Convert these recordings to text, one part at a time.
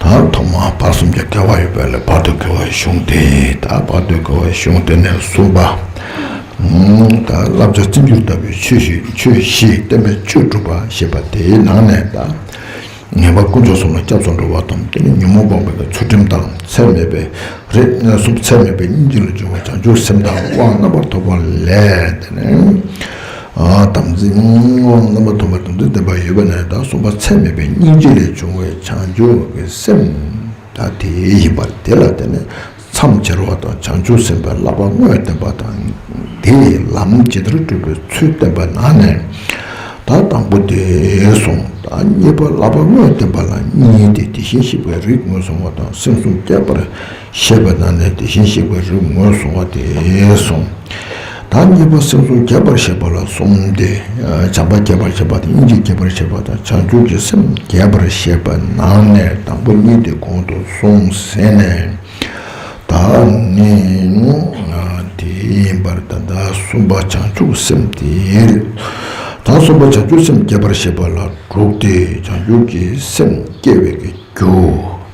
དང་ཐོག་མ་བར་གསུམ་གྱི་འགལ་བ་ཡོད་པ་ལས་བར་དོའི་འགལ་བའི་གཞུང་དེ་དང་བར་དོའི་འགལ་བའི་གཞུང་དེ་ནས་གསུམ་པ། བསླབ་བྱ་བརྩི་འགྱུར་ལྟ་བུའི་ཆོས་བཞིས་བསྟན་པའི་ཆོས་སྒྲུབ་པ་ཞེས་པ་དེའི་ནང་ནས་དང། ངེས་པར་དཀོན་མཆོག་གསུམ་ལ་སྐྱབས་སུ་འགྲོ་བ་དང་དེ་ནི་ཉོན་མོངས་པ་མེད་པའི་ཚུལ་ཁྲིམས་དང་ཚད་མེད་པའི་རིགས་ལྔའི་གཟུགས་ཚད་མེད་པའི་སྙིང་རྗེ་ལ་སྦྱོར་བ་བྱང་ཆུབ་སེམས་དང་དབང་རྣམ་པར་ཐོབ་པ་ལས་དེ་ནི། དམ་ཚིག་སྔོན་དབང་རྣམ་པ་ཐོབ་པ་དང་ཚུལ་བསྟན་པ་ཡོད་པ་ནས་དང་གསུམ་པ་ཚད་མེད་པའི་སྙིང་རྗེ་ལས་བྱུང་བའི་བྱང་ཆུབ་ཀྱི་སེམས་ད་དེ་ཡིན་པ་དེ་ལ་བརྟེན་ནས་མཚམས་སྦྱར་བ་དང་བྱང་ཆུབ་སེམས་དཔའི་བསླབ་པ་དངོས་བསྟན་པ་དང་དེས་ལམ་ཇི་ལྟར་བསྒྲུབ་པའི་ཚུལ་བསྟན་པ་ན་ནས་དང་དང་པོ་དེ་བཟུང་དང་གཉིས་པ་བསླབ་པ་དངོས་བསྟན་པ་ལ་གཉིས་ཏེ་དེ་བཞིན་གཤེགས་པའི་རིགས་ངོས་བཟུང་བ་དང་སེམས་བཟུང་རྒྱས་པར་ཞེས་པའི་ནང་ནས་དེ་བཞིན་གཤེགས་པའི་རིགས་ངོས་བཟུང་བ་དེ་གསུམ་དང་གཉིས་པ་སེམས་གསུམ་རྒྱས་པར་བྱེད་པ་ལ་གསུམ་སྟེ། བྱམས་པ་རྒྱས་པར་བྱེད་པ་དང་སྙིང་རྗེ་རྒྱས་པར་བྱེད་པ་དང་བྱང་ཆུབ་ཀྱི་སེམས་རྒྱས་པར་བྱེད་པའི་ནང་ནས་དང་པོ་གཉིས་དེ་གོང་དུ་སོང་ཟིན་ནས། ད་ནི་དེ་ཡིན་པར་ད་ལྟ་གསུམ་པ་བྱང་ཆུབ་སེམས་དེའི་རིགས་དང་གསུམ་པ་བྱང་ཆུབ་སེམས་རྒྱས་པར་བྱེད་པ་ལ་དྲུག་སྟེ་བྱང་ཆུབ་ཀྱི་སེམས་སྐྱེ་བའི་རྒྱུ།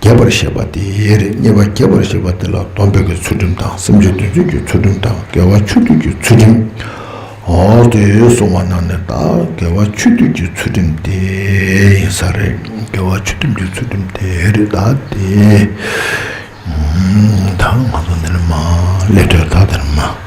རྒྱས་པར་བཤད་པ་དེ་རེད་བརྙེས་པ་རྒྱས་པར་བཤད་པ་དེ་ལ་སྡོམ་འབེབས་ཀྱི་ཚུལ་ཁྲིམས་དང་སེམས་ཅན་དོན་བྱེད་ཀྱི་ཚུལ་ཁྲིམས་དང་དགེ་བ་ཆོས་སྡུད་ཀྱི་ཚུལ་ཁྲིམས། འོ་དེ་གསུངས་པ་རྣམས་ནི་དག་དགེ་བ་ཆོས་སྡུད་ཀྱི་ཚུལ་ཁྲིམས་དེ་ཡིན་ས་རེད་དགེ་བ་ཆོས་སྡུད་ཀྱི་ཚུལ་ཁྲིམས་དེ་རེད་ད་དེ། ད་ང་ཚོ་འདི་ནས་མ་སླེབས་དུས་ད་དེ་ནས་མ།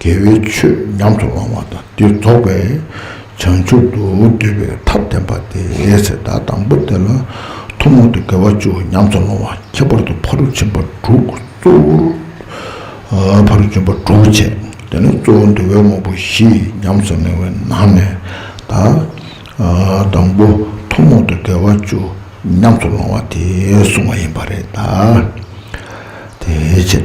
དགེ་བའི་ཆོས་ཉམས་སུ་བླང་བ་དང་དེ་རྫོགས་པས་བྱང་ཆུབ་ཏུ་འདོད་པའི་ཐབས་བསྟན་པ་སྟེ་ཚེ་བདག་དང་པོ་དེ་ལ་ཐུན་མོང་དུ་དགེ་བ་བཅུ་ཉམས་སུ་བླང་བ་ཁྱད་པར་དུ་ཕ་རུ་ཕྱིན་པ་དྲུག་གཙོ་བོར་ཕ་རུ་སྦྱིན་པ་དྲུག་བྱས་དེ་ནས་གཙོ་བོ་འདུལ་བའི་དངོས་པོ་བཞི་ཉམས་སུ་བླང་བའི་ནང་ནས་དང་པོ་ཐུན་མོང་དུ་དགེ་བ་བཅུ་ཉམས་སུ་བླང་བ་དེ་བསྲུང་བ་ཡིན་པ་རེད་དེ་ཕྱིར།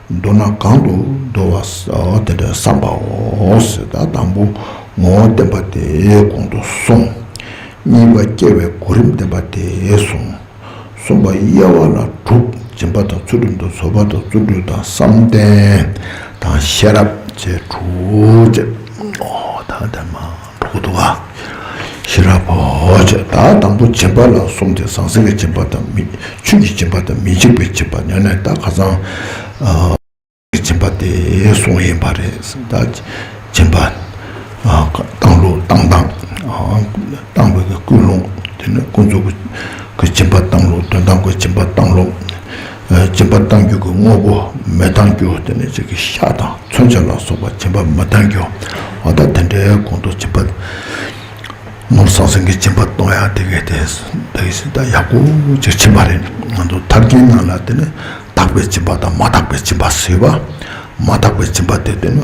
མདོར་ན་གང་དུ་འདོར་བ་དེ་འདྲ་བསམ་པའོ། དང་པོ་ངོ་བོ་བསྟན་པ་དེ་གོང་དུ་སོང། གཉིས་པ་སྐྱེ་བའི་གོ་རིམ་བསྟན་པ་དེ་སོང། གསུམ་པ་དབྱེ་བ་ལ་དྲུག་སྦྱིན་པ་དང་ཚུལ་ཁྲིམས་དང་བཟོད་པ་དང་བརྩོན་འགྲུས་དང་བསམ་གཏན་དང་ཤེས་རབ་བཅས་དྲུག། དང་ལྡན་མ། ཕུག་ཏུ་བ། ཤེས་རབ་བོ། ཅེས་བདག་དང་པོ་སྦྱིན་པ་ལ་གསུམ་སྟེ་ཟང་ཟིང་གི་སྦྱིན་པ་དང། ཆོས་ཀྱི་སྦྱིན་པ་དང་མི་འཇིགས་པའི་སྦྱིན་པ་ཉོན་ནས་བདག་ཁ་ཚང། གི་སྦྱིན་པ་སྟེ་གསུམ་ཡིན་པ་རེད། སྦྱིན་པ། བཏང་ལུགས་བཏང་སྟངས། བཏང་བའི་ཀུན་སློང། དེ་ནས་ཀུན་རྫོབ་ཀྱི་སྦྱིན་པ་བཏང་ལུགས་དོན་དམ་པའི་སྦྱིན་པ་བཏང་ལུགས། སྦྱིན་པ་གཏང་རྒྱུ་གི་དངོས་པོ་མི་གཏང་རྒྱུ་དེ་ནི་ཅིག་གིས་ཤ་དང་མཚོན་ཆ་ལ་སོགས་པ་སྦྱིན་པ་མི་གཏང་རྒྱུ་འོ་ད་དེ་འདྲའི་གོང་དུ་སྦྱིན་པ་ནོར་ཟང་ཟིང་གི་སྦྱིན་པ་གཏོང་ཡག་དེ་གས་དེ་དེ་སྲིད་ད་ཡག་པོ་ཅིག་བྱིན་པ་རེད་ང་ཚོ་ཐབས་ཀྱིས་ནང་ལ་དེ་ནི་དག་པའི་སྦྱིན་པ་དང་མ་དག་པའི་སྦྱིན་པ་ཟེར་བ་མ་དག་པའི་སྦྱིན་པ་དེ་དེ་ནི་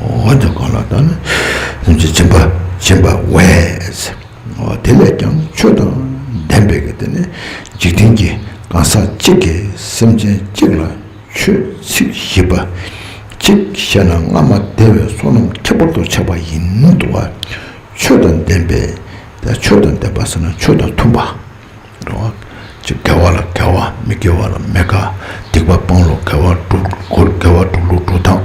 འོན་ཀྱང་གང་ལ་ལྟ་ན་སེམས་ཀྱི་སྦྱིན་པ་བྱིན་པ་བས། དེ་ལས་ཀྱང་ཆོས་དང་ལྡན་པའི་གལ་ཏེ་ནི་འཇིག་རྟེན་གྱི་གང་ཟག་གཅིག་གིས་སེམས་ཅན་གཅིག་ལ་ཆོས་ཚིག་བཞི་པ་གཅིག་བཤད་ན་སྔ་མ་དེ་བས་བསོད་ནམས་ཁྱད་པར་དུ་ཆགས་པ་ཡིན་ཏོ། ཆོས་དང་ལྡན་པས་ཆོས་དང་ལྡན་པ་ཟེར་ན་ཆོས་དང་མཐུན་པ། འགྲོ་བ་ཅི་དགེ་བ་ལ་དགེ་བ་མི་དགེ་བ་ལ་མི་དགའ། སྡིག་པ་སྤང་ལུགས་དགེ་བ་དཀྲུག་ལུགས་དགེ་བ་དཀྲུག་ལུགས་དཀྲུག་དང།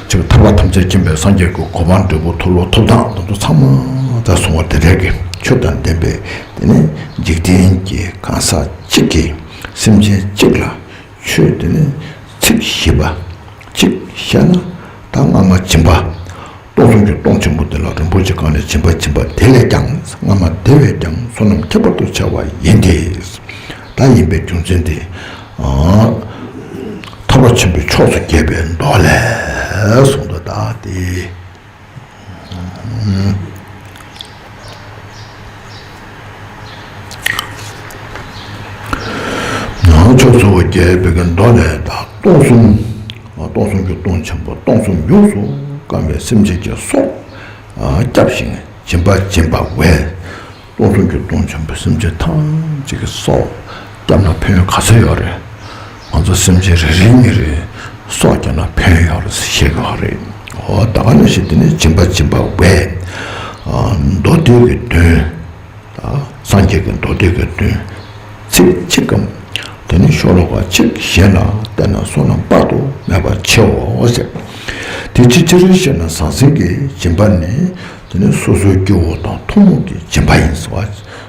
ཅིག་ཐར་པ་ཐམས་ཅད་མཁྱེན་པའི་སངས་རྒྱས་ཀྱི་གོ་འཕང་འབྲས་བུ་འཐོབ་ལུགས་འཐོབ་དང་དེ་ཚོ་ཚང་མ་ད་སོང་བ་དེ་འདྲས་ཀྱི་ཆོས་དང་ལྡན་པས་དེ་ནི་འཇིག་རྟེན་གྱི་གང་ཟག་གཅིག་གིས་སེམས་ཅན་གཅིག་ལ་ཆོས་དེ་ནི་ཚིག་བཞི་པ་གཅིག་བཤད་ན་ད་སྔ་མ་བྱིན་པ། སྟོང་གསུམ་གྱི་སྟོང་ཆེན་པོ་དེ་ལ་རིན་པོ་ཆེ་གང་ལས་བྱིན་པ་བྱིན་པ་དེ་ལས་ཀྱང་སྔ་མ་དེ་བས་ཀྱང་བསོད་ནམས་ཁྱད་པར་དུ་ཆེ་བ་ཡིན་ཏེ། ད་ཡིན་པའི་རྒྱུ་མཚན་དེས། ཐར་བ་ཆེན་པོའི་ཕྱོགས་སུ་བསྐྱེད་པའི་མདོ་ལས་གསུངས་པ་ལྟར་ཏེ། ནང་ཆོས་ཚོ་རྒྱའི་བོད་ཀྱི་མདོ་ལས་དང་སྟོང་གསུམ། སྟོང་གསུམ་གྱི་སྟོང་ཆེན་པོ་སྟོང་གསུམ་ཡོངས་སུ་བསྐམས་པའི་སེམས་ཅན་གྱི་སྲོག་བསྐྱབས་ཤིང་སྦྱིན་པ་སྦྱིན་པ་བས། སྟོང་གསུམ་གྱི་སྟོང་ཆེན་པོ་སེམས་ཅན་ཐམས་ཅད་ཀྱི་སྲོག་བསྐྱབས་ན་ཕན་ཡོན་ག་ཚོད་ཡོད་རེད། ང་ཚོ་སེམས་ཅན་རེ་རེའི་མི་རེ་སྲོག་བསྐྱལ་ན་ཕན་ཡོང་རེད་ཟེར་ཤེས་གི་རེད། ཨོ་ད་ག་ལ་ཞིག་འདི་ནས་སྦྱིན་པ་སྦྱིན་པ་བས། མདོ་སྡེ་གི་དོན། སངས་རྒྱས་ཀྱི་མདོ་སྡེ་གི་དོན་ཚིག་གཅིག་གམ། དེ་ནས་ཤོ་ལོ་ཀ་གཅིག་བཞེས་ན་བསྟན་ན་བསོད་ནམས་དཔག་ཏུ་མེད་པ་ཆེའོ་ཟེར། དེ་ཅི་ཅི་རེད་བཤད་ན་ཟང་ཟིང་གི་སྦྱིན་པ་ནི་དེ་ནི་སོ་སོའི་སྐྱེ་བོ་དང་ཐུན་མོང་གི་སྦྱིན་པ་ཡིན་ཟེར་བ།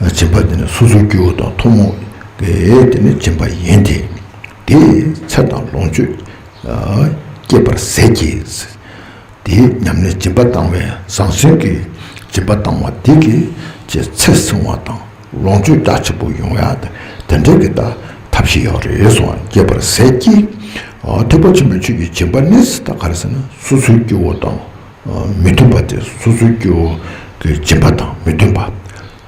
སྦྱིན་པ་འདི་ནི་སོ་སོའི་སྐྱེ་བོ་དང་ཐུན་མོང་གི་དེ་ནི་སྦྱིན་པ་ཡིན་ཏེ། དེས་ཚེ་དང་ལོངས་སྤྱོད་བསྐྱེད་པར་ཟད་ཀྱི། དེའི་ཉམས་ནི་སྦྱིན་པ་བཏང་བས་ཟང་ཟིང་གི། སྦྱིན་པ་བཏང་བ་དེ་གིས་ཀྱི་ཚེ་བསྲིང་བ་དང་ལོངས་སྤྱོད་རྒྱ་ཆེན་པོ་ཡོང་ཡང་དེ་འབྲས་ཀྱི་ཐབས་ཤེས་ཡོད་རེ་ཟུང་བསྐྱེད་པར་ཟད་ཀྱི། ཐེག་པ་ཆེན་པོའི་ཆོས་ཀྱི་སྦྱིན་པ་ནི་ད་ག་རེ་ཟེར་ན་སོ་སོའི་སྐྱེ་བོ་དང་མི་མཐུན་པ་སྟེ་སོ་སོའི་སྐྱེ་བོ་གི་སྦྱིན་པ་དང་མི་མཐུན་པ།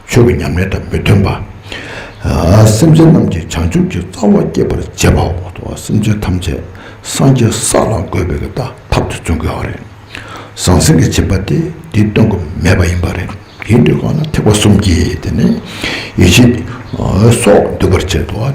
ཆོས་ཀྱི་ཉམས་ལེན་དང་མི་མཐུན་པ། སེམས་ཅན་རྣམས་ཀྱི་བྱང་ཆུབ་ཀྱི་རྩ་བ་བསྐྱེད་པར་བྱེད་པའོ། སེམས་ཅན་ཐམས་ཅད་སངས་རྒྱས་ས་ལ་འགོད་པའི་ཀྱི་ཐབས་དེ་བརྩོན་དགོས་པ་རེད། ཟང་ཟིང་གི་བྱིན་པ་སྟེ་འདི་སྟོན་དགོས་མེད་པ་ཡིན་པ་རེད། ཡིན་དུས་གང་ལ་ཐེག་པ་གསུམ་གྱིས་དེ་ནི་ཡིད་བྱེད། སོགས་འདུལ་བར་བྱེད་དོ།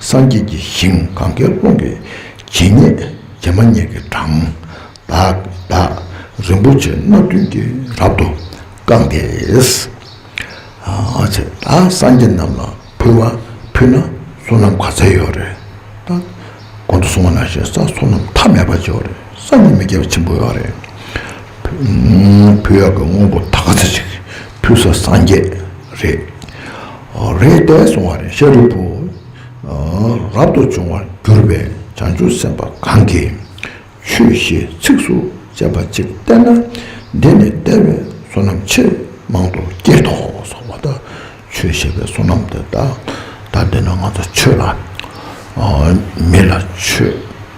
སངས་རྒྱས་ཀྱི་ཞིང་གང་གཱའི་ཀླུང་གི་བྱེ་སྙེད་བྱེ་མ་སྙེད་ཀྱི་གྲངས་དག་རིན་པོ་ཆེ་སྣ་བདུན་གྱིས་རབ་ཏུ་བཀང་སྟེ། ད་སངས་རྒྱས་རྣམས་ལ་ཕུལ་བ་ཕུལ་ན་བསོད་ནམས་ག་ཚད་ཡོད་རེད། ད་གོང་དུ་སོང་བ་ན་ཞེ་ས་བསོད་ནམས་མཐའ་མེད་པ་ཅིག་རེད་སངས་རྒྱས་མི་བརྒྱ་བ་ཆེན་པོ་ཡོད་རེད། ཕུལ་ཡག་གི་དངོས་པོ་ད་ག་ཚད་ཅིག་ཕུལ་ས་སངས་རྒྱས་རེད། རེད་བལྟས་སོང་བ་རེད་ཤཱ་རིའི་བུ། རབ་ཏུ་བྱུང་བར་གྱུར་པའི་བྱང་ཆུབ་སེམས་དཔའ་གང་གིས་ཆོས་བཞི་ཚིགས་སུ་བཅད་པ་གཅིག་བསྟན་ན་འདི་ནི་བདེ་བའི་བསོད་ནམས་ཆེས་མང་དུ་སྐྱེད་དོ། སོགས་པ་དང་ཆོས་བཤད་པའི་བསོད་ནམས་དེ་དག་ད་འདི་ན་ང་ཚོ་ཆོས་ལ་མི་ལ་ཆོས།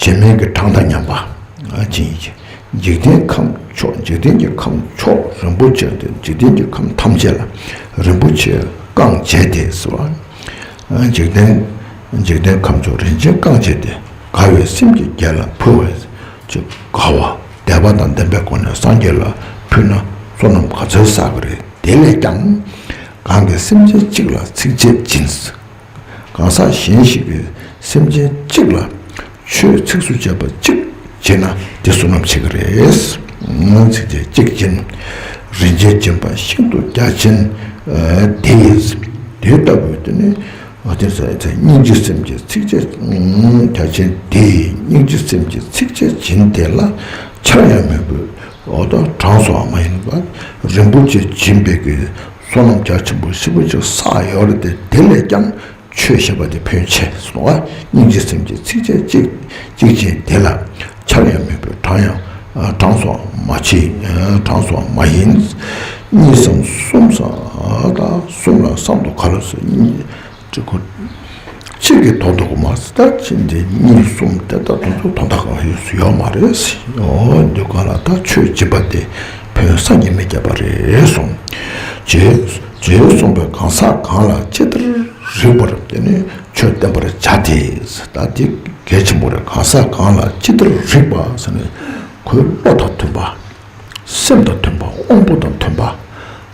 བྱེ་སྨྲེང་གི་གྲངས་དང་མཉམ་པ་ཅི་ཡིན་གྱི། འཇིག་རྟེན་ཁམས་མཆོག་འཇིག་རྟེན་གྱི་ཁམས་མཆོག་རིན་པོ་ཆེ་འདི་འཇིག་རྟེན་གྱི་ཁམས་ཐམས་ཅད་ལ་རིན་པོ་ཆེའི་རྐང་བཅད་དེ་ཟེར་བ། འཇིག་རྟེན་འཇིག་རྟེན་ཁམས་མཆོག་རིན་ཆེན་རྐང་བཅད་དེ་དགའ་བའི་སེམས་ཀྱིས་རྒྱལ་ལ་ཕུལ་བ། ཅེས་དགའ་བ་དད་པ་དང་ལྡན་པའི་སྒོ་ནས་སངས་རྒྱས་ལ་ཕུལ་ན་བསོད་ནམས་ག་ཚོད་བསགས་ཀྱི་རེད་དེ་ལས་ཀྱང། གང་གི་སེམས་ཅན་གཅིག་ལ་ཚིགས་བཅད་སྦྱིན། གང་ཟག་གཞན་ཞིག་གིས་སེམས་ཅན་གཅིག་ལ་ཆོས་ཚིགས་སུ་བཅད་པ་གཅིག་བྱེད་ན་དེ་བསོད་ནམས་ཆེ་གི་རེད། སྔོན་ཚིགས་བཅད་གཅིག་བྱེད་ན་རིན་ཆེན་སྦྱིན་པ་ཤིན་ཏུ་རྒྱ་ཆེན། དེ་ལྟ་བུའི་དོན་ནི་སྙིང་རྗེ་སེམས་ཀྱི་ཚིགས་བཅད་རྒྱ་ཆེན་དེས་སྙིང་རྗེ་སེམས་ཀྱི་ཚིགས་བཅད་བྱིན་དེ་ལ་ཕྱག་གཡང་མོས་གུས་དང་གྲངས་སུའང་མ་ཡིན་པར་རིན་པོ་ཆེ་བྱིན་འབེབས་ཀྱི། བསོད་ནམས་རྒྱ་ཆེན་པོ་ཧྲིལ་པོ་གཅིག་བསགས་ཡོད་རེད་དེ་དེ་ལས་ཀྱང་ཆོས་ཞེས་པ་འདི་བོན་ཆེ་སོང་བ་སྙིང་རྗེ་སེམས་ཀྱི་ཚིགས་བཅད་གཅིག་གཅིག་ཅན་དེ་ལ་ཆར་ཡང་མེད་པའི་གྲངས་ཡང་གྲངས་སོགས་མ་མཆིས་གྲངས་སོགས་མ་ཡིན། གཉིས་སམ་གསུམ་སམ་གསུམ་ལ་སྲམ་དུ་ག་ལ་སོ་གཉིས། དྲི་གུ། ཁྱེད་ཀྱིས་དོ་བདག་གི་མ་རྩ་ལྟར་ཕྱིན་དེ་གཉིས་གསུམ་དེ་ལྟར་དུ་འདུག་དོ་བདག་གི་ཡོད་སུ་ཡོད་མ་རེད་ཟེར། འོ་འདི་ག་ལ་ད་ཆོས་སྦྱིན་པ་དེ་བོན་ས་ཉི་མས་བརྒྱབ་པ་རེད་གསུང། རྗེའི་གསུང་པའི་གང་ཟག་གང་ལ་ཅི་ལྟར་རིགས་པར་དེ་ནི་ཆོས་བསྟན་པར་བྱ་སྟེ། ད་འདི་གལ་ཆེན་པོ་རེད་གང་ཟག་གང་ལ་ཅི་ལྟར་རིགས་པ་ཟེར་ནས་ཁོའི་བློ་དང་མཐུན་པ། སེམས་དང་མཐུན་པ་དབང་པོ་དང་མཐུན་པ།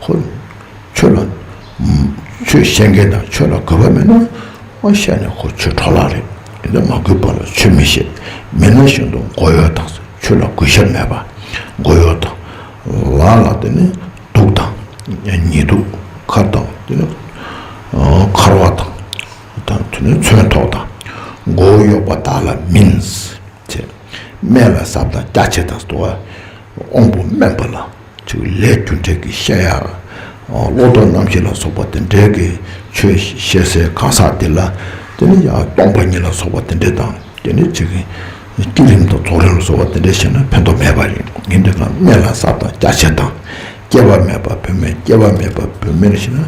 ཁོ། ཁྱོད་ལ། ཁྱོད་བཤད་མཁན་དང་ཁྱོད་ལ་དགོས་པ་མེད་ན། མ་བཤད་ནས་ཁོ་ཁྱོད་གྲོགས་ལགས་རེད་ཡིན་ན་མ་དགོས་པ་ལ་ཁྱོད་མི་བཤད་མེད་ན་བཞིན་དུ་མགོ་ཡོ་དང་ཟེར་ཁྱོད་ལ་གུས་ཞབས་མེད་པ། མགོ་ཡོ་དང། ལགས་ལ་དེ་ནི་སྡུག་དང། ཉེས་སྡུག་མཁར་དང་དེ་ནི། མཁར་བ་དང། དང་དེ་ནི་མཚོན་ཐོག་དང། མགོ་བོ་གཡོགས་པ་དག་ལ་མིན། བྱེད། སྨན་ལ་ཟབ་དང་རྒྱ་ཆེ་དང་ཟློ་བ། དབང་པོ་དམན་པ་ལ་ཆུ་ལས་རྒྱུ་འབྲས་ཀྱི་བཤད་ཡ། བློ་ལྡོག་རྣམ་བཞི་ལ་སོགས་པ་དེ་འབྲས་ཀྱི་ཆོས་བཤད་སའི་གང་ཟག་དེ་ལ་དེ་ནི་ཡང་སྟོང་པ་ཉིད་ལ་སོགས་པ་དེ་འདྲས་དང་དེ་འདྲས་བྱེད། བསྐྱེད་རིམ་དང་རྫོགས་རིམ་ལ་སོགས་པ་དེ་འདྲས་བཤད་ན་ཕན་ཐོགས་མེད་པ་ཡིན། ངེས་འབྲས་ལ་སྨན་ལ་ཟབ་དང་རྒྱ་ཆེ་དང། སྐྱེ་བ་མེད་པ་བུད་མེད་སྐྱེ་བ་མེད་པ་བུད་མེད་ལ་བཤད་ན་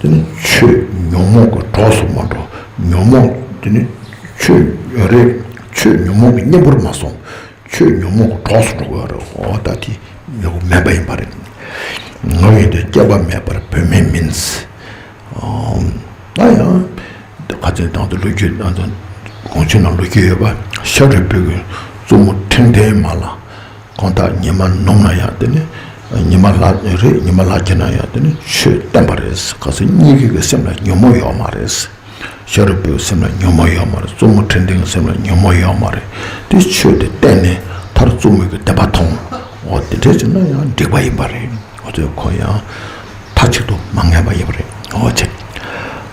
དེ་ནི་ཆོས་ཉོན་མོངས་ཀྱི་གྲོགས་སུ་མ་འགྲོ། ཉོན་མོངས་དེ་ནི་ཆོས་རེད། ཆོས་ཉོན་མོངས་ཀྱི་གཉེན་པོར་མ་སོང། ཆོས་ཉོན་མོངས་ཀྱི་གྲོགས་སུ་འགྲོ་དགོས་རེད། འོ་ད་དེ་ཉོན་མོངས་མེད་པ་ཡིན་པ་རེད། ང་ཡིན་དུས་སྐྱེས་པ་མེད་པར་བུད་མེད་མིན། ད་ཡང་ག་ཚོད་དང་ལོ་རྒྱུས་དང་གོང་ཆེན་ལ་ལོ་རྒྱུས་ཡོད་པ་ཤ་རུས་སྤུལ་གྱི་བཙུན་མོ་ཁྲིམས་ལྡན་མ་ལ་ཁོང་དག་ཉི་མ་ནུབ་ན་ཡང་དེ་ནི་ཉི་མ་ལ་རེད་ཉི་མ་ལ་སྐྱེས་ན་ཡང་དེ་ནི་ཆོས་བསྟན་པ་རེད་ག་ཚོད་གཉིས་ཀའི་སེམས་ལ་ཉོན་མོངས་ཡོད་མ་རེད། ཤ་རུས་པོའི་སེམས་ལ་ཉོན་མོངས་ཡོད་མ་རེད་བཙུན་མོ་ཁྲི་འབྲིང་སེམས་ལ་ཉོན་མོངས་ཡོད་མ་རེད་དེ་ཆོས་དེ་གཏན་ནས་མཐར་བཙུན་མོ་གི་དད་པ་ཐོང་འོ་དེ་འདྲས་བྱུང་ན་ཡང་འགྲིག་པ་ཡིན་པ་རེད་འོ་ཚོད་ཁོ་ཡང་མཐའ་གཅིག་ཏུ་མ་ངས་པ་ཡིན་པ་རེད་འོ་ཆེ།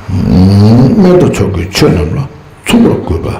སྨན་དུ་ཚོགས་ཀྱི་ཆོས་རྣམས་ལ་ཚོགས་པར་དགོས་པ།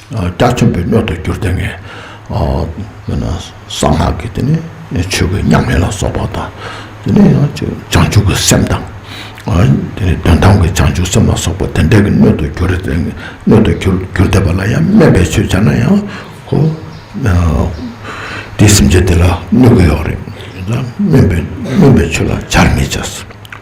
སྐྲ་མཚོན་པའི་སྣོད་དུ་གྱུར་ཏེ་ངས་གསང་སྔགས་ཀྱི་དེ་ནི་ཆོས་ཀྱི་ཉམས་ལེན་ལ་སོགས་པ་དང། དེ་ནས་ཡང་བྱང་ཆུབ་ཀྱི་སེམས་དང། དེ་ནས་དོན་དམ་གྱི་བྱང་ཆུབ་སེམས་ལ་སོགས་པ་དེ་འདྲ་གི་སྣོད་དུ་གྱུར་ཏེ་སྣོད་དུ་གྱུར་ཏེ་བ་ལ་ཡང་སྨད་པའི་ཆོས་བྱ་ན་ཡང་ཧོ། དེའི་སེམས་ཅན་དེ་ལ་གནོད་གི་ཡོག་རེད། སྨད་པའི་ཆོས་ལ་བྱར་མི་བྱ།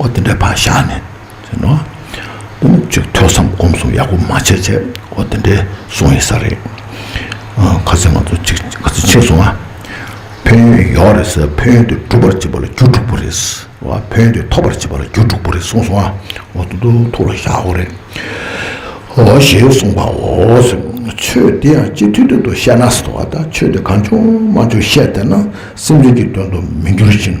ཨོ་དེ་འདྲའི་བར་བཞག་ནས་ཟེར་ནོ། དོ་ནུབ་ཅིག་ཐོས་བསམ་སྒོམ་གསུམ་ཡག་པོ་མ་བྱས་ཚེ་ཨོ་དེ་འདྲའི་སོང་ཡིན་ས་རེད། ག་ཚོད་ང་ཚོ་ཅིག་ག་ཚོད་ཕྱིན་སོང་ཨ། ཕན་ཡོན་ཡོག་རེད་ས་ཕན་ཡོན་དེ་སྒྲུབ་པར་བྱེད་པ་ལ་རྒྱུ་དྲུག་པོ་རེད་ས་བ་ཕན་ཡོན་དེ་ཐོབ་པར་བྱེད་པ་ལ་རྒྱུ་དྲུག་པོ་རེད་གསུངས་སོང་ཨ་ཨོ་དོ་དོ་ཐུགས་ལ་བཞག་ཨོ་རེད། ཨོ་ཞེས་གསུངས་པ་འོ་ཟེར་ཆོས་དེ་ཡང་སྤྱི་འཐུས་དོན་དུ་བཤད་ན་ཟེར་བ་ད་ཆོས་དེ་གང་བྱུང་མ་བྱུང་བཤད་བསྡད་ན་སེམས་ཅན་གྱི་དོན་དུ་མི་འགྱུར་ཞིང་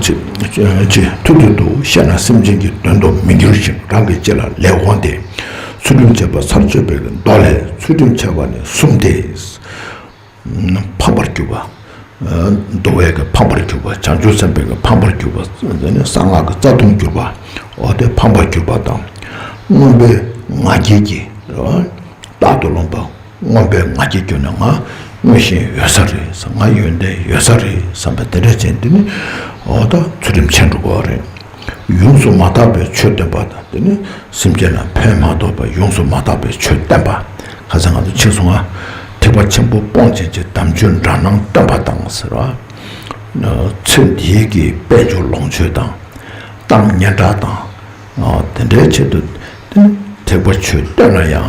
ཅེས་ཐུར་དུ་འདུག་བཤད་ན་སེམས་ཅན་གྱི་དོན་དུ་མི་འགྱུར་ཞིང་རང་གི་ལྕེ་ལ་ལེགས་འོང་སྟེ། ཚུལ་ཁྲིམས་འཆལ་པ་ཚར་གཅོད་པའི་མདོ་ལས་ཚུལ་ཁྲིམས་འཆལ་བ་ནི་གསུམ་སྟེ། ཕམ་པར་གྱུར་པ། འདོ་བས་ཕམ་པར་གྱུར་པ་བྱང་ཆུབ་སེམས་དཔས་ཕམ་པར་གྱུར་པ། གསང་སྔགས་ཀྱི་རྩ་ལྟུང་གྱུར་པ་སྟེ་ཕམ་པར་གྱུར་པ་དང། རྣོན་པོའི་ང་རྒྱལ་གྱིས་རྟག་ཏུ་རློམ་པ། ངོམ་པའི་ང་རྒྱལ་སྐྱོ་ནས་ང་སྔོན་བཞིན་ཡོད་ས་རེད་བསམ་ང་ཡོན་ཏན་ཡོད་ས་རེད་བསམ་པ་དེ་འདྲ་ཅན་འདི་ནི་འོ་ད་ཚུལ་ཁྲིམས་ཆད་འགྲོ་གོ་རེད། ཡོངས་སུ་མ་དག་པའི་ཆོས་སྟོན་པ་དང་འདི་ནི་སེམས་ཅན་ལ་ཕན་མ་ཐོགས་པའི་ཡོངས་སུ་མ་དག་པའི་ཆོས་བསྟན་པ་ག་ཚད་ང་ཚོ་འཆིང་སོང་ང། ཐེག་པ་ཆེན་པོ་སྤོང་བྱེད་ཀྱི་དམ་ཆོས་འདྲ་སྣང་སྟོན་པ་དང་ཟེར་བ། ཚེ་འདིའི་གི་དཔལ་འབྱོར་ལོངས་སྤྱོད་དང། གཏམ་སྙན་གྲགས་དང། དེ་འདྲའི་ཆེད་དུ་འདི་ནི་ཐེག་པ་ཆོས་སྟོན་ན་ཡང།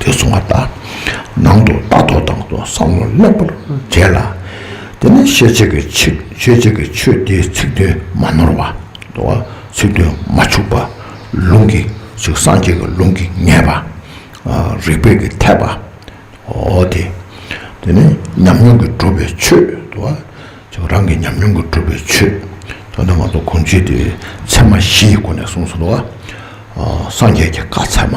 དེ་སོང་བ་དང་ནང་དུ་རྟ་ཐོག་དང་དུ་བསང་བློ་ལེགས་པར་འཇལ་ལ། དེ་ནས་ཤེས་བྱེད་ཀྱི་ཆིག་ཤེས་བྱེད་ཀྱི་ཆོས་དེའི་ཚིག་དོན་མ་ནོར་བ། ཚིག་དོན་མ་འཆུགས་པ། ལུང་གི་ཚིག་སངས་རྒྱས་ཀྱི་ལུང་གིས་ངེས་པ། རིགས་པས་ཀྱི་འཐད་པ། དེ་དེ་ནི་ཉམས་མྱོང་གིས་གྲུབ་པའི་ཆོས། རང་གི་ཉམས་མྱོང་གིས་གྲུབ་པའི་ཆོས། དོན་དུ་ང་ཚོ་གོམས་གཤིས་དེ་ཚད་མ་བཞི་ཡི་སྒོ་ནས་གསུངས་སོ། སངས་རྒྱས་ཀྱི་བཀའ་ཚད་མ།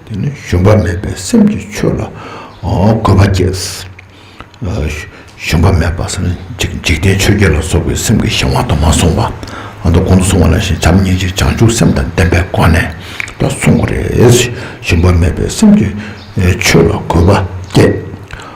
དེ་ནས་ཞུམ་པ་མེད་པའི་སེམས་ཀྱིས་ཆོས་ལ་གོ་བ་སྐྱེས། ཞུམ་པ་མེད་པ་སེམས་འཇིག་རྟེན་ཆོས་བརྒྱད་ལ་སོགས་པའི་སེམས་ཀྱི་གཞན་དབང་དུ་མ་སོང་བ། ད་དུང་གོང་དུ་སོང་བ་ལ་ཞེས་བྱམས་སྙིང་རྗེ་བྱང་ཆུབ་སེམས་དང་ལྡན་པའི་སྒོ་ནས་ཀྱང་གསུང་གི་རེད། ཞུམ་པ་མེད་པའི་སེམས་ཀྱིས་ཆོས་ལ་གོ་བ་སྐྱེས།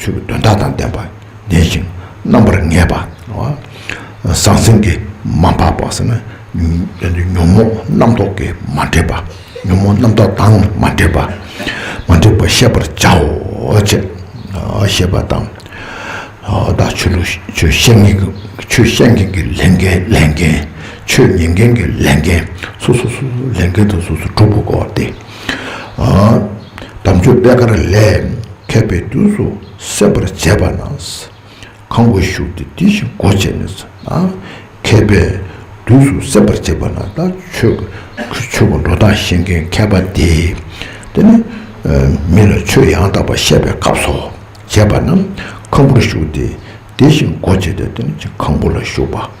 ཆོས་ཀྱི་དོན་དག་དང་ལྡན་པ་ཡིན་ཞིང་རྣམ་པར་ངེས་པ། ཟང་ཟིང་གིས་མ་འཕགས་པ། ཉོན་མོངས་རྣམ་རྟོག་གིས་མ་འདྲེས་པ། ཉོན་མོངས་རྣམ་རྟོག་དང་མ་འདྲེས་པ། མ་འདྲེས་པར་ཤེས་པར་བྱའོ། ཅེས་བཤད་པ་དང། བདག་ཆོས་ལུགས་ཆོས་བཤད་མཁན་གྱི་ཆོས་བཤད་མཁན་གྱི་ལས་འགན་ལས་འགན། ཆོས་ཉན་མཁན་གྱི་ལས་འགན་སོ་སོ་སོ་སོའི་ལས་འགན་དང་སོ་སོའི་གྲུབ་པ་སྐོར་ཏེ། དམ་ཆོས་པད་དཀར་ལས་མཁས་པའི་དུས་སུ་གསལ་བར་མཛད་པ་ན། ཁང་བུར་བཞུགས་ཏེ་དེ་བཞིན་སྒོ་བཅད་ནས་སུ། མཁས་པའི་དུས་སུ་གསལ་བར་མཛད་པ་ན་ད་ཆོས་གོས་ཆོས་གོས་འགྲོ་སྟངས་ཤེས་མཁན་མཁས་པ་དེས་དེ་ནི་མི་ལ་ཆོས་ཡང་དག་པར་བཤད་པའི་སྐབས་སོ། བྱས་པ་ན་ཁང་བུར་བཞུགས་ཏེ་དེ་བཞིན་སྒོ་བཅད་དེ་ཁང་བུ་ལ་བཞུགས་པ།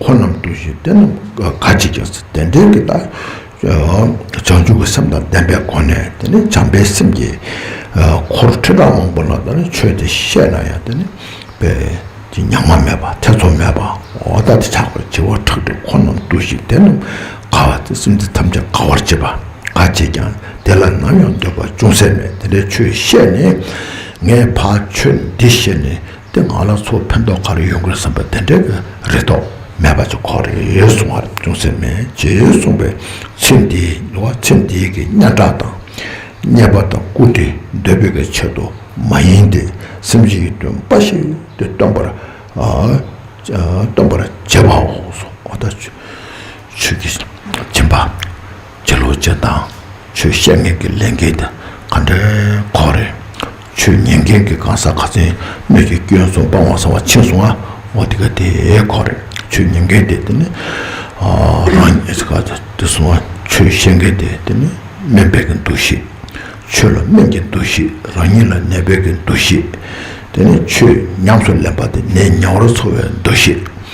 འཁོར་རྣམས་བསྡུ་ཞིང་རྟེན་རྣམས་དགའ་བྱེད་ཀྱི་རྟེན་འབྲེལ་གྱི་དག། བྱང་ཆུབ་ཀྱི་སེམས་དང་ལྡན་པའི་སྒོ་ནས་དེ་ནི་བྱམས་པའི་སེམས་ཀྱིས། འཁོར་ཁྲི་ཕྲག་མང་པོ་ལ་དེ་ནི་མཆོད་དེ་བཤད་ན་ཡང་དེ་ནི་དཔལ་གྱི་ཉག་མ་མེད་པ་ཐེ་ཚོམ་མེད་པ་འོ་ད་དེ་ཆགས་པའི་བྱེ་བ་ཕྲག་དྲུག་འཁོར་རྣམས་བསྡུ་ཞིང་དེ་རྣམས་དགའ་བ་སྟེ་སེམས་ཅན་ཐམས་ཅད་དགའ་བར་བྱེད་པ་དགའ་བྱེད་ཀྱང་དེ་ལ་ནམ་ཡང་འདོད་པ་ཅུང་ཟད་མེད་དེ་ལས་ཆོས་བཤད་ནས། ངས་ཕ་ཆོས་འདི་བཤད་ནས། དེ་ང་ལ་ཚོ་ཕན་ཐོག་ག་རེ་ཡོང་གི་རེད་བསམ་པ་དེ་འདྲའི་གི་རེ་དོགས་མེད་པ་ཅིག་ཁོ་རེ་གསུང་བར་ཅུང་ཟད་མེད་ཅེས་གསུངས་པའི་ཚེ་འདི་ནི་བ་ཚེ་འདིའི་གི་སྙན་གྲགས་དང་བརྙས་པ་དང་སྐུ་དེ་འདོད་པའི་གི་ཆེད་དུ་མ་ཡིན་ཏེ་སེམས་ཅན་གྱི་དོན་འབའ་ཞིག་དེ་སྟོན་པར་སྟོན་པར་བྱེད་པའོ་སོགས་བ་ད། ཆོས་ཀྱི་སྦྱིན་པ། སྤྱི་ལོ་སྤྱི་དང་ཆོས་བཤད་མཁན་གྱི་ལས་འགན་དེ་ག་འདྲའི་ཁོག་རེད། ཆོས་ཉན་མཁན་གྱི་གང་ཟག་ག་ཚད་སྣོད་ཀྱི་སྐྱོན་སོང་སྤང་བ་ཟ་བ་ཆད་སོང་ང་འོ་དེ་ག་དེའི་ཁོག་རེད་ཆོས་ཉན་མཁན་དེ་དེ་ནི་རང་ཉིད་ག་དེ་སོང་ང་ཆོས་བཤད་མཁན་དེ་དེ་ནི་སྨན་སྦེད་ཀྱི་འདུ་ཤེས་ཆོས་ལ་སྨན་གྱི་འདུ་ཤེས་རང་ཉིད་ལ་ནད་སྦེད་ཀྱི་འདུ་ཤེས་དེ་ནི་ཆོས་ཉམས་སུ་ལེན་པ་དེ་ནད་ཉེ་བར་འཚོ་བའི་འདུ་ཤེས།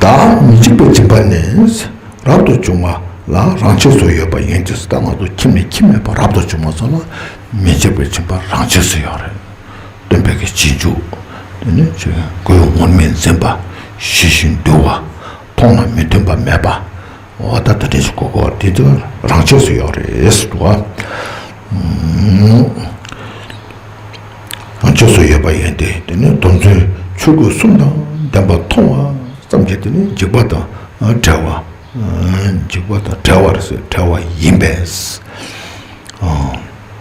བདག་མི་འཇིགས་པའི་སྦྱིན་པ་ནི་རབ་ཏུ་བྱུང་བ་ལ་རང་ཆས་སུ་ཡོད་པ་ཡིན་གྱི་སྲིད་དང་ལག་ཏུ་ཁྱིམ་ནས་ཁྱིམ་མེད་པར་རབ་ཏུ་བྱུང་བ་སོགས་ལ་མི་འཇིགས་པའི་སྦྱིན་པ་རང་ཆས་སུ་ཡོད་རེ་སྟོན་པས་ཀྱི་རྗེས་འཇུག་དེ་ནི་ཆོས་ཀྱི་སྒོའི་ངོར་མི་འཛིན་པ་ཞི་ཞིང་དུལ་བ་མཐོང་ལ་མི་མཐུན་པ་མེད་པ། ཨོ་ད་ད་དེ་ཚོ་གོ་གོ་དེ་ཚོ་རང་ཆས་སུ་ཡོད་རེད་འདུག་ཨ། རང་ཆས་སུ་ཡོད་པ་ཡིན་ཏེ་དེ་ནི་དོན་ཚན་ཆོས་གོས་གསུམ་དང་ལྡན་པ་མཐོང་བ་ཙམ་གྱིས་དེ་ནི་འཇིག་པ་དང་བྲལ་བ། འཇིག་པ་དང་བྲལ་བ་རེད་བྲལ་བ་ཡིན་པས།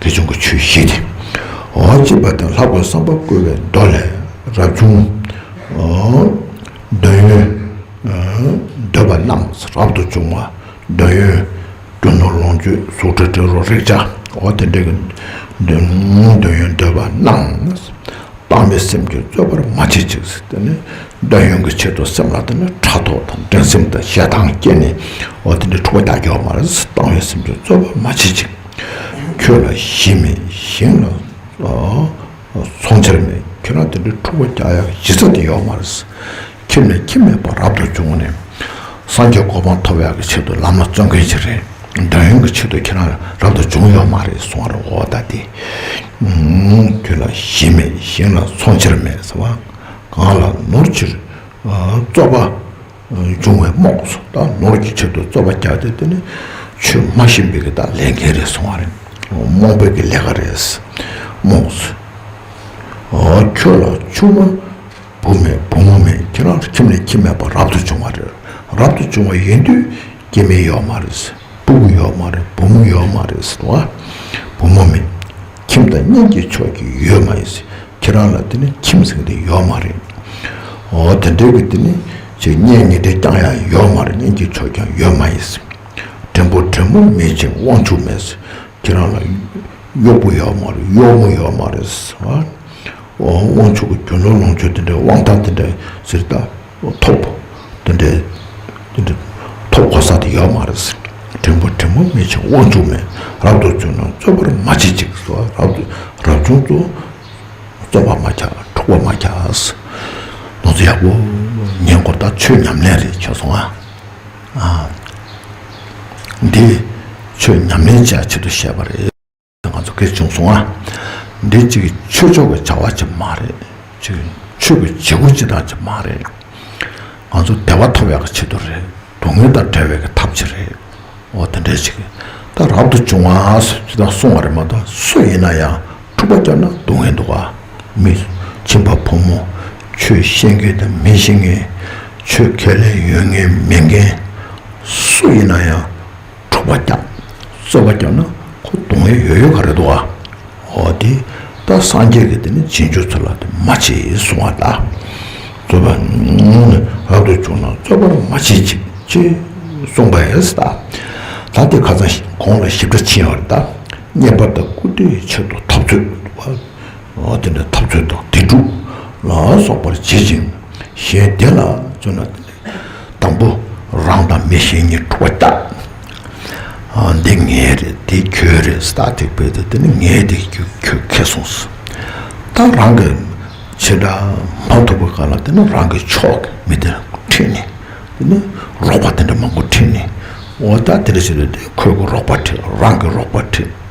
དེ་བྱུང་གི་ཆོས་བཤིག་སྟེ། འོ་ཅེས་པ་དང་ལྷག་པའི་བསམ་པ་བསྐུལ་བའི་མདོ་ལས། རབ་བྱུང། འདོད་ཡོན། འདོད་པ་རྣམས་རབ་ཏུ་འབྱུང་བ། འདོད་ཡོན། རྒྱུ་ནོར་ལོངས་སྤྱོད་གཟུགས་དྲི་དྲི་རོ་རེག་བྱ་འོ་དེ་འདྲ་གི། འདོད་ཡོན་འདོད་པ་རྣམས། དཔག་མེད་སེམས་ཀྱིས་རྩོད་པར་མ་བྱེད་ཅིག། འདོད་ཡོན་གྱི་ཆེད་དུ་སེམས་ལ་ཕྲག་དོག་དང་འགྲན་སེམས་དང་ཞེ་སྡང་སྐྱེས་ནས་འོ་དེ་འདྲའི་འཁྲུག་པ་རྒྱ་འགྱོགས་མ་བཏང་བའི་སེམས་ཀྱིས་རྩོད་པར་མ་བྱེད་ཅིག། ཁྱོད་ལ་གཞི་མེད་གཞན་ལ་ཚོང་འཆར་མེད་ཁྱོད་རང་དེ་འདྲའི་འཁྲུག་པ་རྒྱག་ཡ་གཞི་རྩ་དེ་ཡོག་མ་རེད། ཁྱིམ་ནས་ཁྱིམ་མེད་པར་རབ་ཏུ་བྱུང་ནས་སངས་རྒྱས་གོ་འཕང་ཐོབ་ཡག་གི་ཆེད་དུ་ལམ་ལ་བརྩོན་མཁན་ཞིག་རེད་འདོད་ཡོན་གི་ཆེད་དུ་ཁྱེད་རང་རབ་ཏུ་བྱུང་ཡོག་མ་རེད་གསུང་བ་རུ་འོ་ད་དེ། ཁྱོད་ལ་གཞི་མེད་གཞན་ལ་ཚོང་འཆར་མེད་ཟེར་བ་གང་ལ་ནོར་ཕྱིར་རྩོག་པ། འབྱུང་བའི་རྨོངས་སོ་དང་ནོར་གྱི་ཕྱིར་དུ་རྩོལ་བ་བརྒྱག་སྟེ་དེ་ནི་ཆོས་སྨྲ་བཞིན་པའི་གི་དང་ལས་འགན་རེད་སོང་བ་རེད་རྨོངས་པའི་གི་ལས་ཀ་རེད་རྨོངས་སོ། ཁྱོད་ལ་ཆུང་མ་བུ་མེད་བུ་མོ་མེད་ཁྱེད་རང་ཁྱིམ་ལས་ཁྱིམ་མེད་པར་རབ་ཏུ་བྱུང་བ་རེད་རབ་ཏུ་བྱུང་བ་ཡིན་དུས་སྐྱེ་མེད་ཡོད་མ་རེད། སྤུག་ཡོད་མ་རེད་བུ་མོ་ཡོད་མ་རེད་ཟེར་བ། བུ་མོ་མེད། ཁྱིམ་དང་གཉེན་གྱི་ཕྱོགས་ཀྱི་ཡོད་མ་ཡིན། ཁྱེད་རང་ལ་དེ་ནི་ཁྱིམ་ཟེར་མཁན་ཡོད་མ་རེད། འོ་དེ་འདྲའི་གི་དེ་ནི་ཆེ་གཉེན་ཉེ་འབྲེལ་རྐྱང་ཡང་ཡོད་མ་རེད་གཉེན་གྱི་ཕྱོགས་ཀྱང་ཡོད་མ་ཡིན། བྲན་བུ་བྲན་མོ་མེད་ཅིང་དབང་ཕྱུག་མེད། ཁྱེད་རང་ལ་གཡོག་པོ་ཡོད་མ་རེད་གཡོག་མོ་ཡོད་མ་རེད་ཟེར་བ། འོ་དབང་ཕྱུག་གི་རྒྱུ་ནོར་ལོངས་སྤྱོད་དེ་འདྲའི་དབང་ཐང་དེ་འདྲ་ཟེར་ད། ཐོབ། དེ་འདྲའི། དེ་འདྲའི། ཐོབ་གོ་ས་དེ་ཡོད་མ་རེད་ཟེར། དྲིན་པོ་དྲིན་མོ་མི་བྱེད་དབང་ཕྱུག་མས་རབ་ཏུ་བཙུན་ནོ་རྩོད་པར་མ་བྱེད་ཅིག་ཟེར་བ་རབ་ཏུ་རབ་བྱུང་ཚོ། རྩོད་པ་མ་བྱ་འཁྲུག་པ་མ་བྱ། ནོར་འཛོལ་ཡག་པོ། ཉེ་འཁོར་དག་ཆོས་ཉམས་ལེན་རེ་བྱོས་སོང་ཨ། འདི། ཆོས་ཉམས་ལེན་བྱ་ཆེད་དུ་བཤད་པ་རེད། ང་ཚོ་སྐད་ཅུང་སོང་ཨ། འདི་གཅིག་གི་ཆོས་ཕྱོགས་ཀྱི་བྱ་བ་ཅིག་མ་རེད། གཅིག་གི་ཆོས་ཀྱི་བྱེད་སྒོ་སྤྱི་དང་ཅིག་མ་རེད། ང་ཚོ་བདེ་བ་ཐོབ་ཡག་གི་ཆེད་དུ་རེད། སྡུག་བསྔལ་དང་བྲལ་བའི་གི་ཐབས་ཅིག་རེད། འོ་དེ་འདྲའི་ཅིག་ད་རབ་ཏུ་བྱུང་ཨ། ཅི་ད་སོང་བ་རེད་མ་གཏོགས་སུ་ཡིན་ན་ཡང་འཁྲུག་པ་བསྐྱབས་ན་སྡུག་བསྔལ་འདུག་ཨ། མི་བྱིན་པ་ཕོ་མོ། ཆོས་ཤེས་མཁན་དང་མི་ཤེས་མཁན། ཆོས་ཁས་ལེན་ཡོད་མཁན་མེད་མཁན། སུ་ཡིན་ན་ཡང། འགྲོ་བ་རྒྱབ། རྩོལ་བ་རྒྱབ་ན་ཁོ་སྡུག་བསྔལ་ཡོད་ཡོད་ག་རེད་འདུག་ཨ། ཨོ་དེ་ད་སངས་རྒྱས་ཀྱི་དེ་ནི་རྗེས་འཇུག་ཚོ་ལ་དེ་མ་བྱེད་གསུང་བ་ལ། རྩོལ་བ་ནི་རབ་ཏུ་བྱུང་ན་རྩོལ་བར་མ་བྱེད་ཅིག་ཅེས་གསུངས་པ་ཨེ་ཟ། ད་དེ་ཁ་ཚང་གོང་ལ་ཞིབ་ཕྲ་ཕྱིན་ཡོང་རེད་ད། རྙེད་པ་དང་བཀུར་སྟིའི་ཕྱིར་དུ་འཐབ་རྩོད་བ། དེ་ནས་འཐབ་རྩོད་དང་དེ་དྲུག་ལ་སོགས་པར་བྱེད་ཅིང་གཞན་བདེ་ལ་བརྩོན་ན་དེ་ནི། དང་པོ་རང་དང་མི་གཞན་གཉིས་དྲུག་པ་བསྐྱར། འདི་ངའི་རེད་འདི་ཁྱོའི་རེད་སྟག་ཐིག་སྤེལ་ཏེ་འདི་ནི་ངའི་འདི་ཁྱོད་ཁེ་སོང་ཟེར། ད་རང་གི་ཕྱི་དགྲ་མ་ཐུག་པ་ག་ལ་འདི་ནི་རང་གི་ཕྱོགས་ཀྱི་མི་དེ་ཁྲིད་ནས་འདི་ནི་རོགས་པ་དེ་འདྲ་མང་པོ་ཁྲིད་ནས་འོ་ད་འདི་འདྲ་བྱས་ཏེ་འདི་ཁོས་རོགས་པ་ཁྲིད་རང་གི་རོགས་པ་ཁྲིད།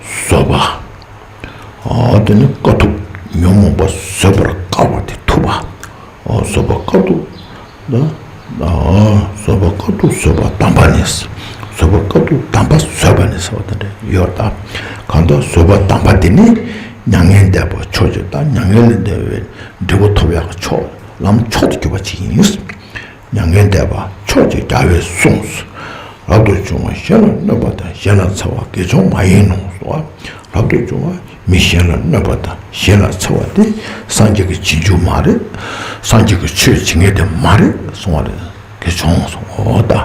བཟོད་པ། དེ་ནི་དཀའ་ཐུབ་ཉོན་མོངས་པ་བཟོད་པར་དཀའ་བ་དེ་ཐུབ་པ། བཟོད་པ་དཀའ་ཐུབ། བཟོད་པ་དཀའ་ཐུབ་བཟོད་པ་དམ་པ་ནི། བཟོད་པ་དཀའ་ཐུབ་དམ་པ་བཟོད་པ་ནི་ཟེར་བ་དང་འདྲ་ཡོད་དོ། གང་དག་བཟོད་པ་དམ་པ་དེ་ནི་མྱ་ངན་འདས་པ་ཕྱོགས་གཅིག་དང་མྱ་ངན་ལས་འདས་པའི་འབྲས་བུ་ཐོབ་ཡང་མཆོག་ལམ་མཆོག་ཏུ་གྱུར་པ་གཅིག་ཡིན། མྱ་ངན་འདས་པ་ཕྱོགས་གཅིག་རྒྱལ་བས་གསུངས། རབ་ཏུ་བྱུང་བ་གཞན་ལ་གནོད་པ་དང་གཞན་ལ་འཚེ་བ་དགེ་སྦྱོང་མ་ཡིན་ནོ་ཟེར་བ། རབ་ཏུ་བྱུང་བ་མི་གཞན་ལ་གནོད་པ་དང་གཞན་ལ་འཚེ་བ་དེ་སངས་རྒྱས་ཀྱི་བྱེད་འགྱུར་མ་རེད། སངས་རྒྱས་ཀྱི་ཆོས་བྱེད་ངེས་དེ་མ་རེད་གསུང་བ་ལས་དགེ་སྦྱོང་སོགས་དང།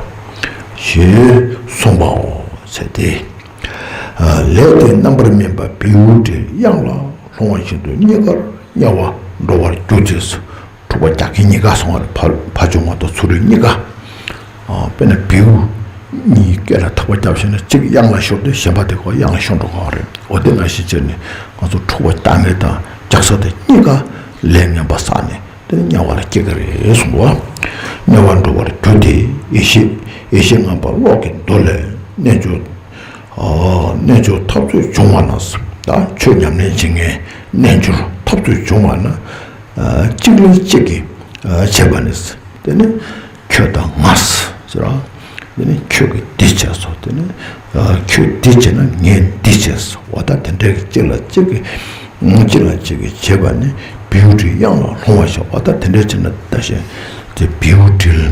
ཞེས་གསུངས་པའོ། ཚེ་འདི་ལས་དེ་རྣམ་པར་སྨིན་པ་བེའུའི་དྲི་དབྱངས་ལ་ལྷུང་བ་བཞིན་དུ་རྙེད་དཀར་དམྱལ་བར་འགྲོ་བར་གྱུར་ཅེས་སོ། དྲུག་པ་རྒྱ་སྐད་གཉིས་ཀ་སྲོང་བར་ཕ་བྱུང་བ་དང་ཚུ་རུའི་གཉིས་ཀ། དཔེར་ན་བེའུ་གཉིས་སྐད་ལ་ཐག་པ་རྒྱབ་ཤེས་ན་གཅིག་གཡང་ལ་ཤོར་ཏེ་གཞན་པ་དེ་གོ་གཡང་ལ་ཤོར་འགྲོ་དགོས་པ་རེད། འོ་དེ་འང་ཤེས་ཆེད་ནས་ང་ཚོ་དྲུག་པ་རྒྱ་སྐད་དང་རྒྱ་བཟའ་དེ་གཉིས་ཀ་ལས་ངན་པ་བཟའ་ནས་དེ་ནི་དམྱལ་བ་ལ་སྐྱེ་གི་རེད་གསུངས་པ། དམྱལ་བར་འགྲོ་བར་འགྱུར་ཏེ་ཡེ་ཤེས་ཡེ་ཤེས་ངང་པ་གློག་གི་མདོ་ལས་རྣལ་འབྱོར། རྣལ་འབྱོར་འཐབ་རྩོད་བྱུང་བ་ན་བཟའ། ཆོས་ཉམས་ལེན་བྱེད་ངན་རྣལ་འབྱོར་འཐབ་རྩོད་བྱུང་བ་ན་གཅིག་ལ་གཅིག་གིས་བྱས་པ་ནས་དེ་ནི་ཁྱོད་དང་ང་ཟེར་རོ། དེ་ནི་ཁྱོད་ཀྱིས་འདི་བྱས་སོ་དེ་ནི་ཁྱོས་འདི་བྱས་ན་ངས་འདི་བྱས་སོ་བ་ད་དེ་འདྲའི་གཅིག་ལ་གཅིག་གིས་གཅིག་ལ་གཅིག་གིས་བྱས་པ་ནི་བེའུ་དྲིལ་དབྱངས་ལ་ལྷུང་བ་བཞིན་བ་ད་དེ་འདྲའི་ཕྱིར་ན་ད་བཞིན་ཏེ་བེའུ་དྲིལ།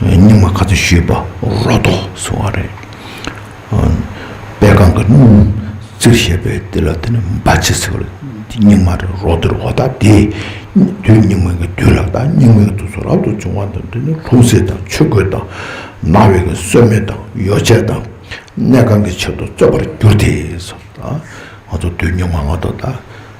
སྙིང་མ་ག་ཚོད་བཤོས་པ་རོ་ཏོག་བཟོ་བ་རེད། དཔལ་ཁང་གི་སྣུམ་རྩིར་བཤད་པའི་དེ་ལ་དེ་ནི་འབའ་ཆེ་ཟེར་བ་ལ་དེ་སྙིང་མ་རེད་རོ་དེར་བ་ད་དེ་དུས་སྙིང་མ་གི་དུས་ལགས་ད་སྙིང་མའི་དུས་སུ་རབ་ཏུ་བྱུང་བ་དང་དེ་ནི་ལྷུང་བཟེད་དང་ཆུ་རྒོད་དང་ན་བའི་གི་སོལ་མེ་དང་ཡོ་བྱད་དང་གནས་ཁང་གི་ཕྱིར་དུ་བཙོས་པར་གྱུར་ཏེ། ང་ཚོ་དུས་སྙིང་མ་ལགས་ད་ད།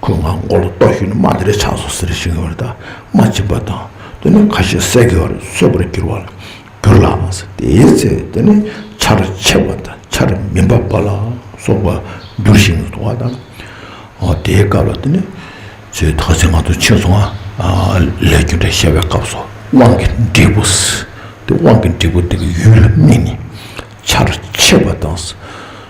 ཁོས་ང་མགོ་ལ་གཏོགས་ཤིག་ནི་རྨ་དེ་རས་ཆག་སོང་ཟེར་བཞིན་ཡོད་རེད་ད་རྨ་བཅིངས་པ་དང་དེ་ནི་ཁ་ཤས་ཟས་གོས་རེ་ཟོས་པར་གྱུར་བ་ལ་གྱུར་ལགས་མ་ཟད་དེའི་ཚེ་དེ་ནི་ཆར་ཆེ་བ་དང་ཆར་མི་འབབ་པ་ལ་སོགས་པ་འགྱུར་བཞིན་ཡོད་འདུག་བ་དང། དེའི་སྐབས་ལ་དེ་ནི་ཚོས་ཐག་ཆེན་ང་ཚོ་ཕྱིར་སོང་ང་ལས་རྒྱུ་འབྲས་བཤད་པའི་སྐབས་སུ་དབང་གི་འབྲས་བུ་ཟེར་དེ་དབང་གི་འབྲས་བུ་དེ་གི་ཡུལ་ལ་དམིགས་ནས་ཆར་ཆེ་བ་དང།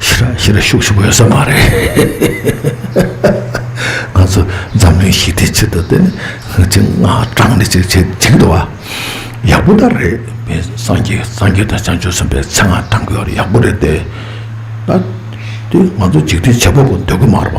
ཤི་ར་ཤི་ར་ཤུག་ཤུག་ཡོད་ས་མ་རེད། ང་ཚོ་འཛམ་གླིང་ཞི་བདེའི་ཆེད་དུ་དེ་ནི་ཅི་ང་དྲང་ནས་ཅིག་བྱེད་བྱེད་འདུག་བ། ཡག་པོ་ད་རེད་བེ། སངས་རྒྱས་སངས་རྒྱས་དང་བྱང་ཆུབ་སེམས་དཔའི་མཚན་ང་དྲང་གི་ཡོད་རེད་ཡག་པོ་རེད་དེ། ད་དེ་ང་ཚོ་འཇིག་རྟེན་བྱེད་པོ་པོ་འདོད་གི་མ་རེད་བ།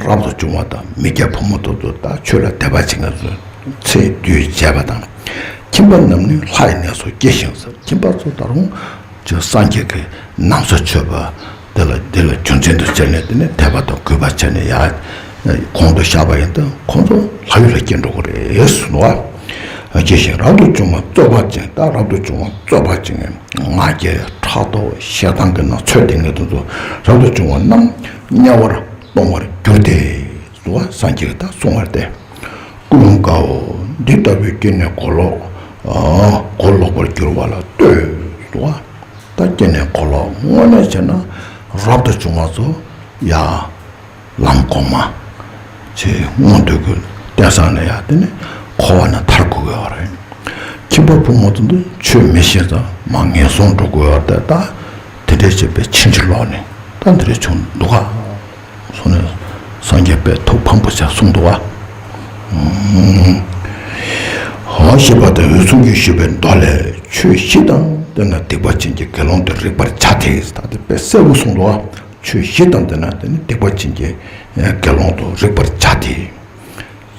རབ་ཏུ་བྱུང་བ་དང་མི་སྐྱ་ཕོ་མོ་ཐུགས་རྡོ་བརྟག་ཆོས་ལ་དད་པ་བྱེད་མཁན་ཚོས་ཚེ་འདུས་བྱས་པ་དང་ཁྱིམ་པ་རྣམས་ནི་ལྷ་ཡི་གནས་སུ་སྐྱེས་ཤིང་ས་ཁྱིམ་པ་ཚོ་ད་རུང་ཅི་སངས་རྒྱས་ཀྱི་ནམ་ས་ཆོས་པ་འདི་ལ་འདི་ལ་རྒྱུ་མཚན་དུ་བྱས་ནས་དེ་ནི་དད་པ་དང་གུས་པ་བྱས་ནས་ཡར་གོང་དུ་བཞག་པ་ཡིན་ཏེ་ཁོང་ཚོ་ལྷ་ཡུལ་ལ་སྐྱེ་འགྲོ་གི་རེད་ཟེར་བ། སྐྱེས་ཤིང་རབ་ཏུ་བྱུང་བ་རྩོད་པ་ཅན་དང་རབ་ཏུ་བྱུང་བ་རྩོད་པ་ཅན་ང་རྒྱལ་ཕྲག་དོག་ཞེ་སྡང་གི་ན་ཚོད་དེ་ངེས་དོན་དུ་རབ་ཏུ་བྱུང་བ་རྣམས། དམྱལ་བར་གཏོང་བར་འགྱུར་ཏེ། གཟུ་བ་སངས་རྒྱས་དང་གསུང་བར་ཏེ། ཀུན་སློང་དགའ་འོ། འདི་ལྟ་བུའི་སྐྱེ་གནས་གོ་ལོག། གོ་ལོག་པར་འགྱུར་བ་ལ་ལྟོས། གཟུ་བ་དང་སྐྱེ་གནས་གོ་ལོག་དངོས་གནས་བྱས་ན། རབ་ཏུ་བྱུང་བ་གཟུ་ཡ། ལམ་གོང་མ། ཆེས་སྔོན་འདོད་རྒུའི་རྟེན་བཟང་ལས་ཡ་དེ་ནི་འཁོར་བ་ན་མཐར་འགུགས་དགོས་པ་རེད། ཁྱིམ་པ་བུ་མོ་ཚོ་འདི་ཆོས་མི་ཤེས་ཙང་མ་ངན་སོང་འགྲོ་དགོས་པ་དེ་ལྟ། དེ་འདྲའི་བྱས་པས་ཕྱིན་ཅི་ལོག་ནས་ལྟ་འདི་རེ་བྱུང་འདུག་ག། སོང་ནས་སངས་རྒྱས་པའི་ཐུགས་ཕམ་པོ་བྱ་གསུངས་འདུག་ག། ཧོ། ཞེས་པ་དང་འོད་སྲུང་རྒྱུད་ཞུ་བའི་མདོ་ལས་ཆོས་བཞི་དང་ལྡན་ན་སྡིག་པ་ཅན་གྱི་དགེ་སློང་དུ་རིག་པར་བྱ་སྟེ་ད་ལྟའི་དཔེ་གསལ་བོ་གསུངས་འདུག་ག། ཆོས་བཞི་དང་ལྡན་ན་དེ་ནི་སྡིག་པ་ཅན་གྱི་དགེ་སློང་དུ་རིག་པར་བྱ་སྟེ།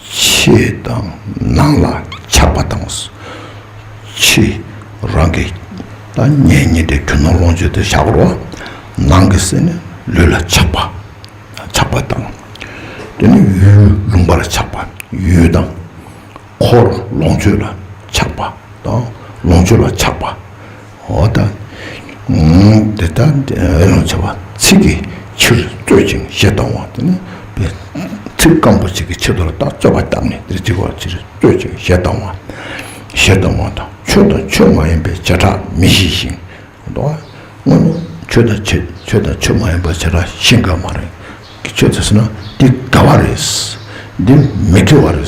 ཕྱི་དང་ནང་ལ་ཆགས་པ་དང། ཕྱི་རང་གི་ལ་ཉེ་ཉེ་འབྲེལ་གྱུར་ནང་ལོངས་སྤྱོད་དུ་བྱ་བར་བ། ནང་གི་སེམས་ནི་ལུས་ལ་ཆགས་པ། ཆགས་པ་དང། དེ་ནི་ཡུལ་ལུང་པར་ཆགས་པ་ཡུལ་དང། འཁོར་ལོངས་སྤྱོད་ལ་ཆགས་པ་དང་ལོངས་སྤྱོད་ལ་ཆགས་པ། འོ་ད་འདི་ལྟར་འོད་ལོང་ཆེ་བ་ཚིག་གི་ཕྱིར་རྩོད་ཅིང་བཤད་གཏོང་བ་དེ་ནི་ཚིག་རྐང་པོ་གཅིག་གི་ཕྱིར་དོར་དང་རྩོད་པ་བཏགས་ནས་འདིར་འཇིག་པའི་ཕྱིར་རྩོད་ཅིང་བཤད་གཏོང་བ། བཤད་གཏོང་བ་དང་ཆོས་དང་ཆོས་མ་ཡིན་པའི་བྱེ་བྲག་མི་ཤེས་ཤིང། དོ། སྔོན་མོ་ཆོས་དང་ཆོས་དང་ཆོས་མ་ཡིན་པའི་བྱེ་བྲག་ཤེས་དཀའ་མ་རེད། ཁྱོད་ཚོས་ཟེར་ན་འདི་དགའ་བ་རེད། འདི་མི་དགེ་བ་རེད།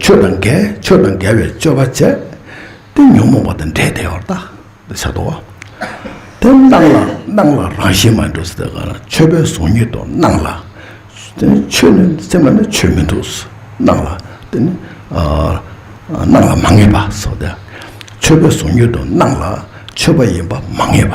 ཆོས་དང་འགལ་ཆོས་དང་འགལ་བའི་སྤྱོད་པ་སྤྱད་དེ་ཉོན་མོངས་པ་དང་འདྲེས་བདེ་བར་བརྟག་འདི་ཆ་དོ། དེ་སྣང་ལ་སྣང་ལ་རང་བཞིན་མ་འདུག་ཟེར་ག་ལ་ཆོས་པའི་གཟུགས་ཉིད་དུ་སྣང་ལ། ཆོས་ནི་སེམས་ལ་ནི་ཆོས་མི་འདུག་སྣང་ལ་དེ་ནི་སྣང་ལ་མ་ངེས་པ་སོགས་ཏེ། ཆོས་པའི་གཟུགས་ཉིད་དུ་སྣང་ལ་ཆོས་པ་ཡིན་པ་མ་ངེས་པ།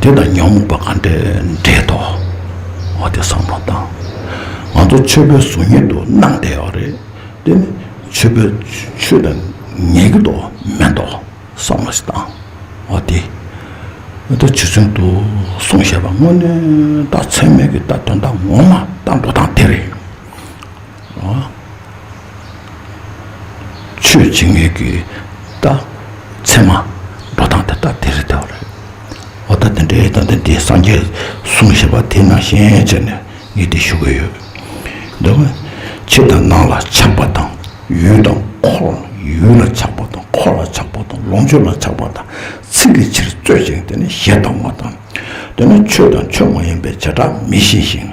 དེ་དང་ཉོན་མོངས་པ་གང་འདྲེས་འདྲེས་དོ། འོ་དེ་བསམ་བློ་བཏང། ང་ཚོ་ཆོས་པའི་གཟུགས་བརྙན་དུ་སྣང་བསྡད་ཡོད་རེད། དེ་ནི་ཆོས་པའི་ཆོས་དང་ངན་གྱི་དོ་མེད་དོ། བསམ་བློ་ཞིག་བཏང། འོ་དེ། འོ་དེ་ཇི་ཚོད་དུ་སོང་ཞེས་པ་དངོས་གནས་ད་ཚད་མེད་ཀྱི་ད་དོན་དག་ངོ་མ་ད་འགྲོ་སྟངས་དེ་རེད། ཆོས་བྱེད་ངེས་ཀྱི་རྟགས། མཚན་མ། འགྲོ་སྟངས་དེ་ལྟར་དེ་རེད་དེ་རེད། འོ་ད་དེ་འདྲའི་སྟངས་དེ་འདི་སངས་རྒྱས་གསུངས་ཞེས་པ་དེ་ནང་བཞིན་བྱས་ནས་ངས་འདི་ཞུ་གི་ཡོད། འདི་ནི་ཕྱི་དང་ནང་ལ་ཆགས་པ་དང་ཡུལ་དང་འཁོར་ལ་ཡུལ་ལ་ཆགས་པ་དང་འཁོར་ལ་ཆགས་པ་དང་ལོངས་སྤྱོད་ལ་ཆགས་པ་དང་ཚིག་གི་ཕྱིར་རྩོད་ཅིང་དེ་ནི་ཞེ་སྡང་བ་དང། འདི་ནི་ཆོས་དང་ཆོས་མ་ཡིན་པའི་བྱེ་བྲག་མི་ཤེས་ཤིང།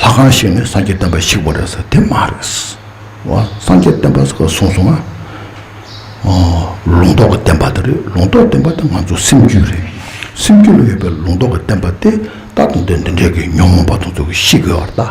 ལྷ་ཁང་ཞིག་ནས་སངས་རྒྱས་བསྟན་པ་ཞིག་བ་རེད་ཟེར་དེ་མ་རེད། སངས་རྒྱས་བསྟན་པ་ཟེར་གསུངས་སོང་ང། ལུང་རྟོགས་ཀྱི་བསྟན་པ་དེ་རེད་ལུང་རྟོགས་བསྟན་པ་དེ་ང་ཚོ་སེམས་རྒྱུད་རེད། སེམས་རྒྱུད་ལ་ཡོད་པའི་ལུང་རྟོགས་ཀྱི་བསྟན་པ་དེ་ད་དུང་དེ་འདི་འདྲའི་གི་ཉོན་མོངས་པ་དང་ཚུལ་གྱིས་ཤིག་གི་བར་དག།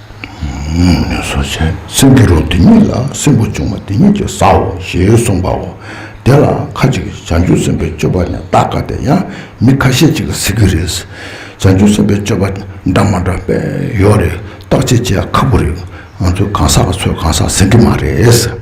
སོ་བྱས། སེམས་ཀྱི་རོ་དེ་ཉིད་ལ་སྲིན་པོ་བྱུང་བ་དེ་ཉིད་ཀྱི་སའོ་ཞེས་གསུངས་པའོ། དེ་ལ་ཁ་ཅིག་བྱང་ཆུབ་སེམས་དཔའི་སྤྱོད་པ་ནི་བདག་དགའ་བདེ་ཡང་མི་ཁ་ཤས་ཅིག་གཟིགས་ཀྱི་རེད། བྱང་ཆུབ་སེམས་དཔའི་སྤྱོད་པ་འདྲ་མ་འདྲ་བས་ཡོད་རེད། བརྟག་དཔྱད་བྱེད་ཁག་པོ་རེད། ང་ཚོའི་གང་ཟག་ཚོས་གང་ཟག་ཟིན་གྱི་མ་རེད།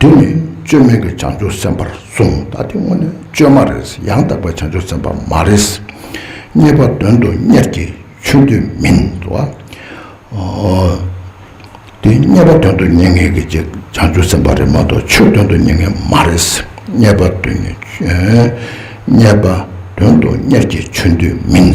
དུས་མེད་བཅོས་མེད་ཀྱི་བྱང་ཆུབ་སེམས་དཔར་གསུངས་ད་དེ་དངོས་ནས་བཅོས་མ་རེད་ཡང་དག་པའི་བྱང་ཆུབ་སེམས་དཔའ་མ་རེད། རྙེད་པ་དོན་དུ་གཉེར་གྱི་ཆོས་འདུལ་མིན་འདུལ་བ། དེ་རྙེད་པ་དོན་དུ་གཉེར་མཁན་གྱི་བྱང་ཆུབ་སེམས་དཔའ་རེད་མ་གཏོགས་ཆོས་དོན་དུ་གཉེར་མཁན་མ་རེད། རྙེད་པ་དོན་དུ་གཉེར་གྱི་ཆོས་འདུལ་མིན།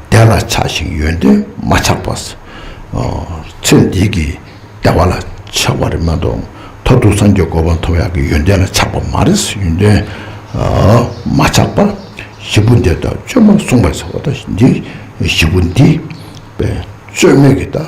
དེ་ལ་ཆགས་ཤིང་ཡོན་ཏན་མ་ཆགས་པ། ཚེ་འདི་གི་བདེ་བ་ལ་ཆགས་པ་རེད་མ་གཏོགས་མཐར་ཐུག་སངས་རྒྱས་གོ་འཕང་མཐོ་བ་ཡག་གི་ཡོན་ཏན་ལ་ཆགས་པ་མ་རེད། ཡོན་ཏན་མ་ཆགས་པ། བཞི་པོ་འདི་དག་བཅོས་མར་གསུངས་པ་ཟེར་བ་དང་འདི་བཞི་པོ་འདི་བཅོས་མེད་ཀྱི་དང།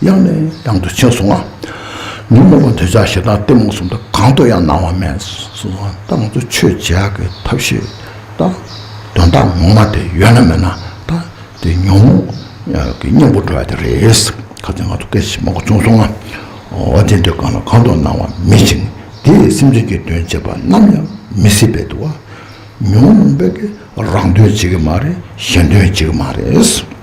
དབྱངས་ནི་དབྱངས་དུ་ཕྱིན་སོང་ངམ། ཉོན་མོངས་པ་འདོད་ཆགས་ཞེ་སྡང་གཏི་མུག་གསུམ་དུ་གང་དུ་ཡང་སྣང་བ་མེད། གསུམ་པ་ལྟ་ང་ཚོ་ཆོས་བྱེད་ཀྱི་ཐབས་ཤེས་དང། དོན་དག་ངོ་མ་དེ་ཡོད་ན་མེད་ན་དང། དེ་ཉོན་མོངས་ཀྱི་གཉེན་པོ་འགྲོ་བ་དེ་རེད། གལ་ཏེ་ང་ཚོ་སྐད་ཅིག་མ་གོ་བྱུང་སོང་ངམ། འོ་དེ་འདོད་གང་ལ་གང་དུ་སྣང་བ་མེད་ཅིང་དེས་སེམས་ཅན་གྱི་དོན་བྱེད་པ་ནམ་ཡང་མི་སྲིད་པས་དུ་བ། ཉོན་མོངས་པས་རང་དོན་བྱེད་ཀྱི་མ་རེད་གཞན་དོན་བྱེད་ཀྱི་མ་རེད།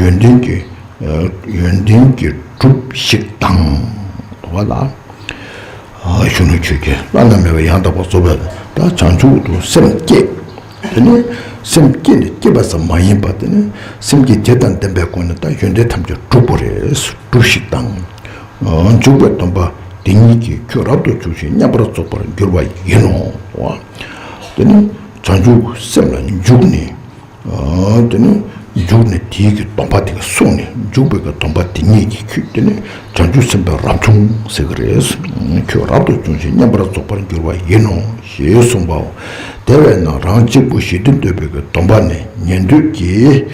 ཡོན་ཏན་གྱི་ཡོན་ཏན་གྱི་གྲུབ་ཞིག་དང། དུ་བ་ལ། གཞོན་ནུ་ཁྱོད་ཀྱིས་བླ་ན་མེད་པའི་ཡང་དག་པར་རྫོགས་པའི་བདག་བྱང་ཆུབ་ཏུ་སེམས་བསྐྱེད། དེ་ནི་སེམས་བསྐྱེད་ནི་བསྐྱེད་པ་ཙམ་མ་ཡིན་པར་དེ་ནི་སེམས་བསྐྱེད་དེ་དང་ལྡན་པའི་སྒོ་ནས་ད་ཡོན་ཏན་ཐམས་ཅད་འགྲུབ་པོ་རེད་གྲུབ་ཞིག་དང། འཇུག་པའི་སྡོམ་པ་འདི་ཉིད་ཀྱིས་ཁྱོད་རབ་ཏུ་འཇུག་ཅིང་མཉམ་པར་རྫོགས་པར་འགྱུར་བ་ཡིན་ནོ། དུ་བ་ལ། དེ་ནི་བྱང་ཆུབ་སེམས་ལ་འཇུག་ནས། དེ་ནས་འཇུག་ནས་དེའི་གི་སྡོམ་པ་དེ་ག་སོང་ནས་འཇུག་པའི་གི་སྡོམ་པ་དེ་ཉིད་ཀྱིས་ཁྱོད་དེ་ནས་བྱང་ཆུབ་སེམས་དཔའ་རབ་བྱུང་ཟེར་གི་རེད། ཁྱོད་རབ་ཏུ་བྱུང་ཞིང་མཉམ་པར་རྫོགས་པར་འགྱུར་བ་ཡིན་ནོ་ཞེས་གསུངས་པའོ། དེ་བས་ན་རང་གཅིག་པུ་ཞི་བདེ་འདོད་པའི་གི་སྡོམ་པ་ནི་ཉན་ཐོས་ཀྱི།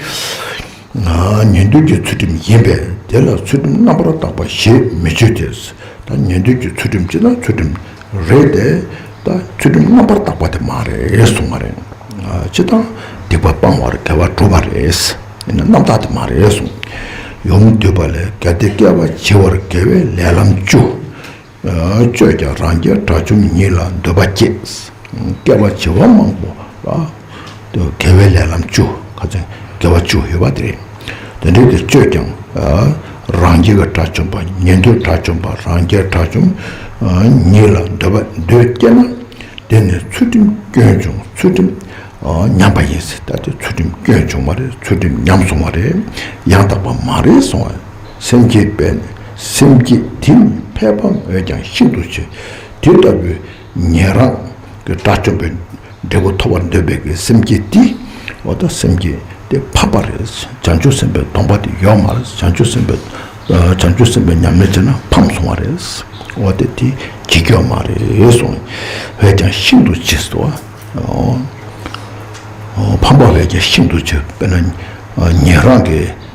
ཉན་ཐོས་ཀྱི་ཚུལ་ཁྲིམས་ཡིན་པས་དེ་ལ་ཚུལ་ཁྲིམས་རྣམ་པར་དག་པ་ཞེས་མི་བརྗོད་དེ། ད་ཉན་ཐོས་ཀྱི་ཚུལ་ཁྲིམས་ཅི་ན་ཚུལ་ཁྲིམས། རེད་དེ། ད་ཚུལ་ཁྲིམས་རྣམ་པར་དག་པ་དེ་མ་རེད་གསུང་བ་རེད། སྤྱི་དང་སྡིག་པ་སྤང་བར་གལ་བ་གྲུབ་པ་རེད། ཡིན་ན་རྣམ་དག་དེ་མ་རེད་གསུང། ཡོངས་བསྡུས་པ་ལས་གལ་ཏེ་བསྐལ་པ་བྱེ་བར་དགེ་བའི་ལས་ལམ་བཅུ། སྤྱོད་ཀྱང་རང་རྒྱལ་དགྲ་བཅོམ་ཉིད་ལ་འདོད་པ་སྐྱེས། བསྐལ་པ་བྱེ་བ་མང་པོ་ལ། དགེ་བའི་ལས་ལམ་བཅུ། དགེ་བ་བཅུ་ཡོད་པ་དེ་རེད། དེ་འདྲའི་དེར་སྤྱོད་ཀྱང། རང་རྒྱལ་བའི་དགྲ་བཅོམ་པ་ཉན་ཐོས་དགྲ་བཅོམ་པ་རང་རྒྱལ་དགྲ་བཅོམ། ཉིད་ལ་འདོད་པ་འདོད་སྐྱེས་ན། དེ་ནི་ཚུལ་ཁྲིམས་སྐྱོན་བྱུང་ཚུལ་ཁྲིམས་ཉམས་པ་ཡིན་སྲིད་ད་དེ་ཚུལ་ཁྲིམས་སྐྱོན་བྱུང་བ་རེད་ཚུལ་ཁྲིམས་ཉམས་སོང་བ་རེད་ཡང་དག་པ་མ་རེད་སོང་བ་སེམས་བསྐྱེད་པས་ནི་སེམས་བསྐྱེད་དེ་ནི་ཕལ་པ་མོས་ཀྱང་ཤིན་ཏུ་ཆེ་དེ་ལྟ་བུའི། ཉན་རང་གི་དགྲ་བཅོམ་པའི་འབྲས་བུ་ཐོབ་པར་འདོད་པའི་གི་སེམས་བསྐྱེད་དེ། འོ་ད་སེམས་བསྐྱེད་དེ་འཕགས་པ་རེད་བྱང་ཆུབ་སེམས་དཔའི་སྡོམ་པ་དེ་ཡོད་མ་རེད་བྱང་ཆུབ་སེམས་དཔའི་བྱང་ཆུབ་སེམས་དཔའི་ཉམས་ལེན་བྱས་ན་ཕམ་སོང་བ་རེད། འོ་དེ་དེ་ཇི་སྐྱོ་མ་རེད་གསུང། བས་ཀྱང་ཤིན་ཏུ་ཆེ་སོ། ཕམ་པ་བས་ཀྱང་ཤིན་ཏུ་ཆེ་བས་ན་ཉན་རང་གི།